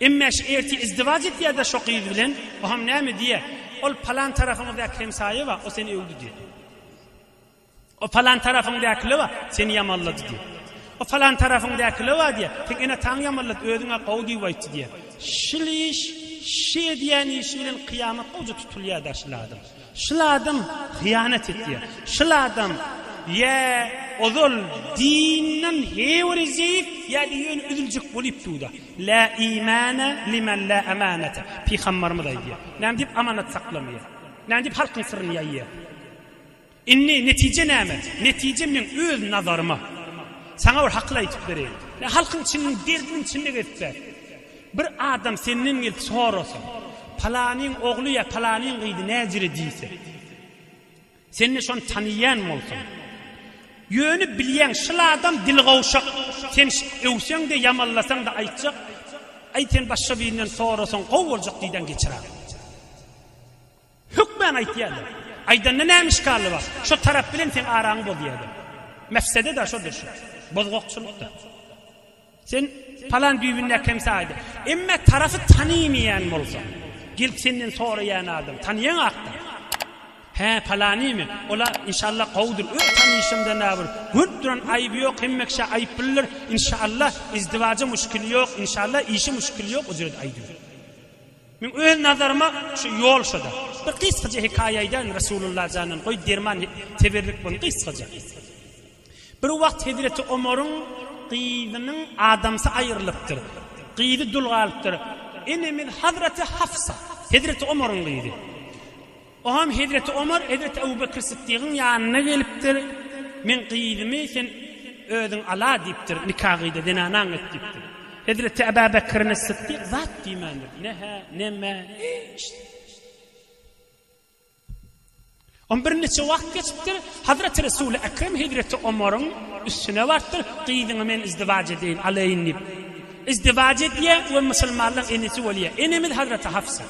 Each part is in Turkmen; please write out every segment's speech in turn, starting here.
Emma şu ertir izdiwac etýär-de şo gyz bilen, oam näme diýýär, Ol palan tarapyňyzdaky Hemsaýewa, o seni öwdi diýýär. O palan tarapyňdakylewa, seni ýamanlady diýýär. O palan tarapyňdakylewa diýýär, seň ene-ataňy ýamanlady, özüňe gowy diýip aýtdy diýýär. Şul iş, şu edýän işi bilen kyýamat gowja tutulýar-da şul adam. Şul adam hyýanat etýär. Şul adam ýa ozal dinden hewerejek ýa-da ýöne üzüljek bolup dur-da. La imana limen la amanata. Pygambarymyz aýdýar. Näme diýip amanat saklamaýar. Näme diýip halkyň syryny ýaýýar. Indi netije näme? Netije meň öz nazaryma. Saňa bir hakyl aýdyp bereýin. Halkyň içiniň derdiniň içinde gezip ber. Bir adam senden gelip sorasa, Palanyň ogly ýa palanyň gyzy näjere diýse, sen-de şony tanaýan bolsaň, ýöne bilýäň, şyl adam dili gowşak, sen öwseň-de, ýamanlasaň-da aýtjak, Aý, sen başga birinden sorasaň gowy boljak diýdäň, geçir agzyňy. Hökman aýtýarlar. Aýdanda näme işgally bar? Şo tarap bilen seň araňy bozýarlar. Mefsede-de şodur şu. Bozgakçylyk-da. Sen palan düýbündäki hemsä aýda. Emme tarafy tanymaýan bolsaň, gelip senden soraýan adam, tanýaňakda. Hä, palanymy? Ol-a, inşallah, gowudyr. Öz tanyşymdan-a bir görüp duran aýby ýok, hemmekiş-ä aýyp bilner. Inşallah, izdiwaja muşkili ýok, inşallah, işi muşkili ýok, o ýerde aýdyň. Meň öz nazaryma şu ýol şoda. Bir gysgaja hekaýa aýdaýyn Resulullah jandan goý derman teberrük bolun gysgaja. Bir wagt hezreti Omaryň gyzynyň adamsy aýrylypdyr. Gyzy dul galypdyr. Enemiz hazraty Hafsa. Hezreti Omaryň gyzy. Oňam hezreti Omar hezreti Ebu Bekr Sytdygyň ýanyna gelipdir, Meň gyzymy sen özüň ala diýipdir, nika gyýda, zenanaň et diýipdir. Hezreti Ebu Bekrin Sytdyk zat diýmändir, ne-hä, ne-mä, hiç zat. Oňa birnäçe wagt geçipdir, Hazreti Resul-i Ekrem hezreti Omaryň üstüne barypdyr, Gyzyňy men izdiwaç edeýin, alaýyn diýip. Izdiwaç edýär we musulmanlaryň enesi bolýar. Enemiz Hazreti Hafsa.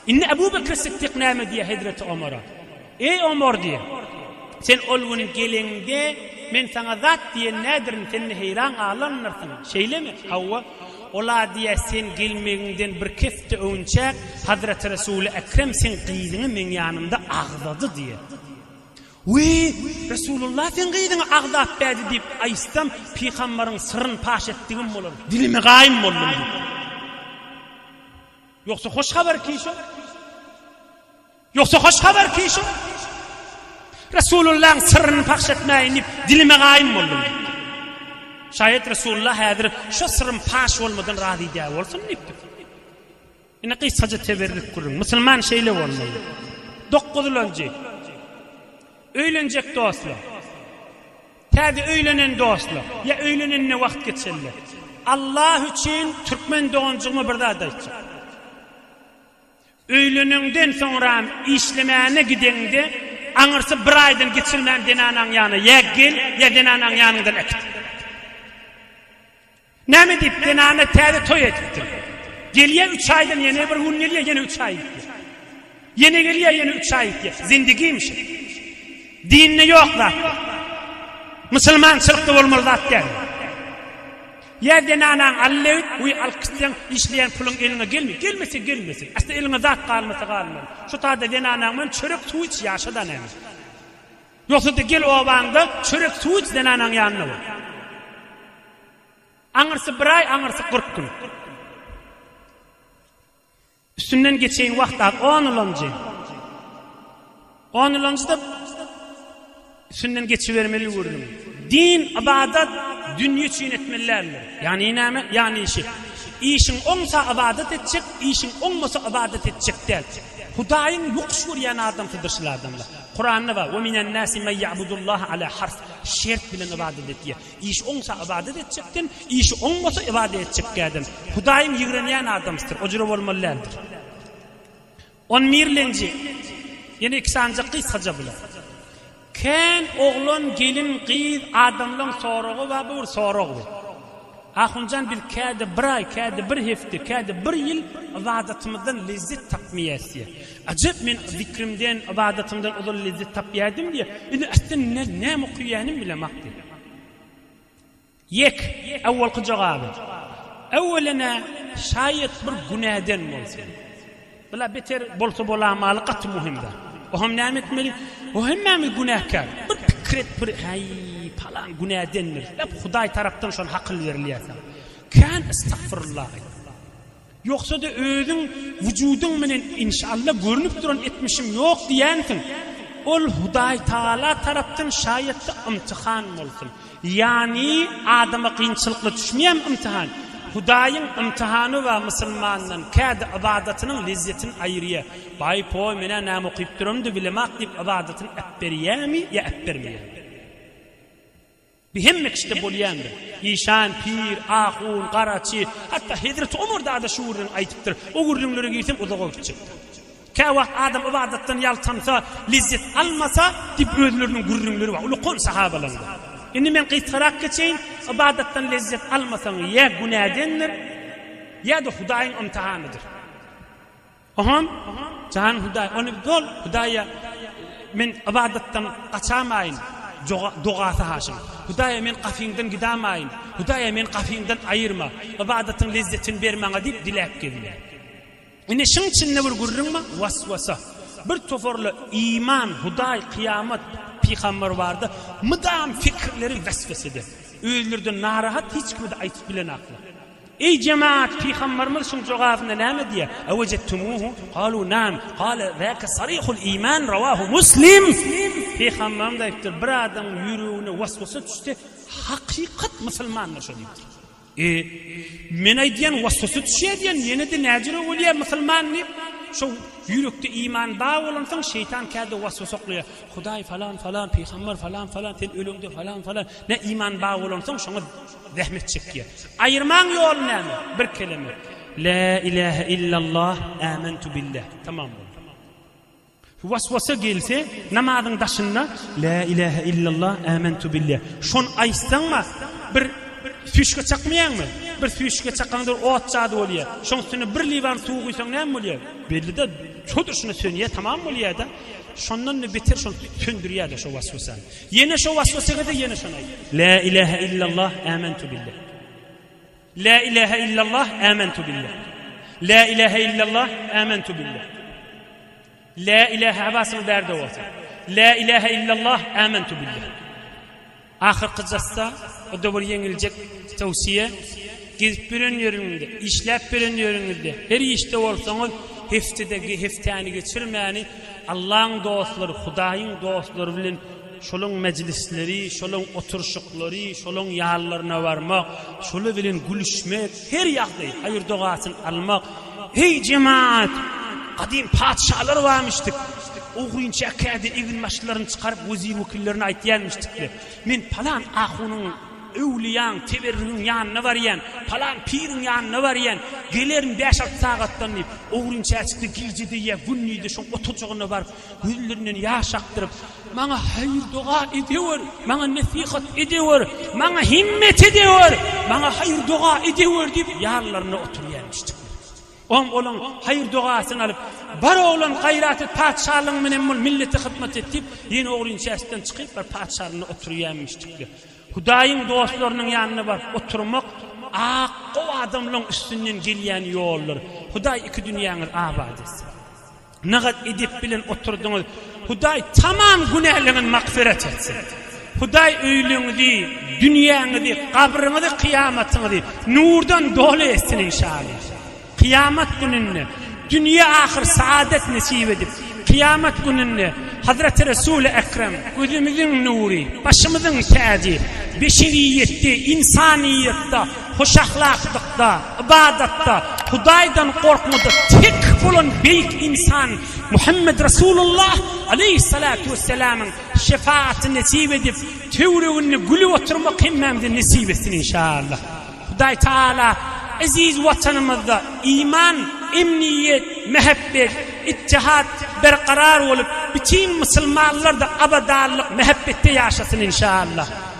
Indi Ebu Bekr Sytdyk näme diýýär hezreti Omara? Eý Omar diýýär, sen ol gün geleňde men saňa zat diýen nädirin sen ne heýran galanlarsyň, şeýlemi? Hawa, ol-a diýýär sen gelmegiňden bir kepde öwünçäk hazreti Resuly Ekrem seň gyzyňy meň ýanymda agzady diýýär. Wiý, Resulullah seň gyzyňy agzap bärdi diýip aýtsam Pygambaryň syryn paş etdigim bolar, dilimi gaýym boldum diýýär. Ýogsa hoş habar kişiň? Ýogsa hoş habar kişiň? Resulullahyň syrryny pahş etmäýin diýip, dilime gaýym boldum. Şaýat Resulullah häzir şu syrrym paş bolmadan razy dä bolsun diýipdi. Ine gysgaja teberrük gürrüň. Musulman şeýle bolmaly. Dokuzlanjy. Öýlenjek dostlar. Täze öýlenen dostlar ýa öýlenenine wagt geçenler. Allah üçin türkmen doganjygyma bir zat aýtjak. Öýleneňden soňram işlemäne gideňde aňyrsy bir aýdan geçirmän zenanaň ýanyna ýa gel ýa zenanaň ýanyňdan äkit. Näme diýip, zenanlar täze toý edipdir. Gelýär üç aýdan ýene bir gün gelýär, ýene üç aý gitýär. Ýene gelýär, ýene üç aý gitýär. Zindigimi şu? Dinde ýok zat bu. Musulmançylykda bolmaly zat däl bu. Ýa zenanaň Alla öýt, we alkyşlaň, işleýän puluň eliňe gelmeýär. Gelmese gelmesin. Aslynda eliňe zat galmasa galmaly. Şu taýda zenanaň bilen çörek, suw iç, ýaşa-da näme. Ýogsa-da gel obaňda çörek suw iç zenanaň ýanynda bol. Aňyrsy bir aý, aňyrsy kyrk gün. Üstünden geçeýin wagt az, on ýylanjy. On ýylanjy-da üstünden geçibermeli ýüwürdiň. Din, ybadat, dünýe üçin etmeli däldir. Ýagny näme? Ýagny işi. Işiň oňsa ybadat etjek, işiň oňmasa ybadat etjek däl. Hudaýyň ýokuş görýän adamsydyr şul adamlar. Kuranda bar, Ve minen nasi men ya'budullaha ala harf, şert bilen ybadet et diýýär. Işi oňsa ybadet etjekden, işi oňmasa ybadet etjekkäden. Hudaýyň ýigrenýän adamsydyr, o jüre bolmaly däldir. On mirlenji, ýene iki sanjak gysgaja bilen. Kän oglan, gelin, gyz, adamlaň soragy bar, bu bir sorag bu. Ahunjan biz käde bir aý käde bir hepde käde bir ýyl ybadatymyzdan lezzet tapmaýas diýýä. Ajap men zikrimden ybadatymdan ozal lezzet tapýardym diýýä. Indi asla näme okuyanymy bilemok diýýä. Ýek awwalky jogaby. Awwelena şaýat bir günäden bolsun. Bula beter bolsa bolamaly gaty muhimda. Oham näme etmeli? O hemmämiz günäkär. Bir pikir et bir häý palan günädendir. Lep Hudaý tarapdan şony hakyl berilýärse. Kän estagfirullah aýt. Ýogsada özüň wujudyň menen inşalla görnüp duran etmişim ýok diýänsiň. Ol Hudaý Taala tarapdan şaýatly ymtyhan bolsun. Ýagny adama kynçylykly düşmeýän ymtyhan, Hudaýyň ymtyhany we musulmandan kädi ybadatynyň lezzetini aýyrýar. Baý, poý, men-ä näme okyp duramdy bilemok diýip ybadatyny äpberýärmi ýa äpbermeýärmi? Bu hemme kişide bolýandyr. Işan, pir, ahun, garaçy, hatda Hezreti Omar dada şu gürrüňi aýdypdyr. O gürrüňlere girseň uzag bolup gitjekdir. Käwagt adam ybadatdan ýaltansa, lezzet almasa, diýip özleriniň gürrüňleri bar. Ulakan sahabalaryň. Indi men gysgarak geçeýin, ybadatdan lezzet almasaň, ýa günädendir, ýa-da Hudaýyň ymtahanydyr. Ogam, jany Hudaý, ony bol, Hudaýa men ybadatdan gaçamaýyn, dogasy haşam. Hudaýa men gapyňdan gidamaýyn, Hudaýa meni gapyňdan aýyrma, ybadatyň lezzetini ber maňa diýip diläp gelýär. Ine, şuň içinde bir gürrüň bar, waswasa. Bir toparlar iman, Hudaý, kyýamat, pygamber bardy, mydam pikirleri weswesede. Özlerinden narahat, hiç kime-de aýtyp bilenaklar. Eý, jemaat, pygamberimiz şuň jogabynda näme diýýär? Awejetumuhu? Galu, nam. Gale, zäke sarihul iman, rawahu Muslim. Pygamberimiz aýdypdyr, bir adamyň ýüregine waswasa düşse, hakykat musulmandyr şo diýipdir. E, men aýdýan waswasa düşýär diýen ýene-de näjüre bolýar musulman diýip, şo ýürekde iman bar bolansoň şeýtan käde waswasa oklaýar. Hudaý falan falan, pygambar falan falan, sen öleňde falan falan, nä iman bar bolansoň şoňa zähmet çekýär. Aýyrmaň ýoly näme? Bir keleme. La ilaha illallah, amantu billah. Tamam boldy. Waswasa gelse, namazyň daşynda Lä ilähe illallah, ämentu bille. Şony aýtsaňma, bir süýşge çakmaýaňmy? Bir süýşge çakaňda ot jady bolýa. Şoň üstüne bir liwan suw guýsaň näme bolýa? Belli-de, şo durşuna sönýä, tamam bolýa-da. Şondan-da beter şony söndürýä-de şo waswasany. Ýene şo waswasa gelse, ýene şony aýt. Lä ilähe illallah, ämentu bille. Lä ilähe illallah ämentu billah. Lä ilähe illallah ämentu billah. Lä ilähe habasyň bärde bolsa. Lä ilähe illallah ämentu billah. Ahyrky jassa o da bir ýeňiljek towsiýe. Gezip ýören ýeriňde, işläp ýören ýeriňizde, her işde bolsaňyz, heftede hepdäni geçirmäni Allaň dostlary, Hudaýyň dostlary bilen Şolaň mejlisleri, şolaň oturşyklary, şolaň ýallaryna barmak, şolar bilen gülüşmek, her ýagdaý, haýyr-dogasyny almak. Heý, jemaat! Gadym patyşalar barmyşdyk. Ogrynçäk kädi eginbaşlaryny çykaryp, wezir-wekillerine aýtýarmyşdyk-da, Men palan ahunyň, öwlüýäň, teberrugyň ýanyna barýan, palan piriň ýanyna barýan, gelerin bäş-alty sagatdan diýip, ogrynçäçik-de gije-de ýa gündiz-de şoň oturjagynda baryp, Gözlerinden ýaş akdyryp, Maňa haýyr-doga edewer, maňa nesihat edewer, maňa himmet edewer, maňa haýyr-doga edewer diýip, ýanlarynda oturýan müşdikler. Oň olaň haýyr-dogasyny alyp, Bar oglan gaýrat et, patyşalygyň menen bol, millete hyzmat et diýip, ýene ogryn içersinden çykyp, bir patyşalygyna oturýan müşdikler. Hudaýyň dostlarynyň ýanyna baryp oturmak ak gow adamlaryň üstünden gelýän ýoldur. Hudaý iki dünýäňizi abat etsin. Nygaz edep bilen oturdyňyz Hudaý tamam günäleňiz magfyrat etsin Hudaý öýlüňizi dünýäňizi gabryňyzy kyýamatyňyzy nurdan doly etsin inşaly kyýamat gününde dünýe ahyr saadet nesip edip kyýamat gününde Hazreti Resul-i Ekrem gözümiziň nury başymyzyň täji beşeriýetde insanyýetde Hoşahlaklykda, ybadatda, Hudaýdan gorkmada tek bolan beýik ynsan Muhammet Resulullah aleýhissalatu wessalamyň şefaaty nesip edip, töwreginde gülüp oturmak hemmämize nesip etsin inşaallah. Hudaý Taala eziz Watanymyzda iman, emniýet, mähebbet, ittihat berkarar bolup, bütin musulmanlar-da abadanlyk, mähebbetde ýaşasyn inşaallah.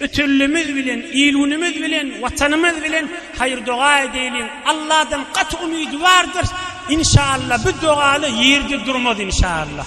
Ötünlimiz bilen, il-günümiz bilen, Watanymyz bilen haýyr-doga edeýliň. Alladan gaty umydwardyr. Inşallah bu dogaly ýerde durmaz inşallah.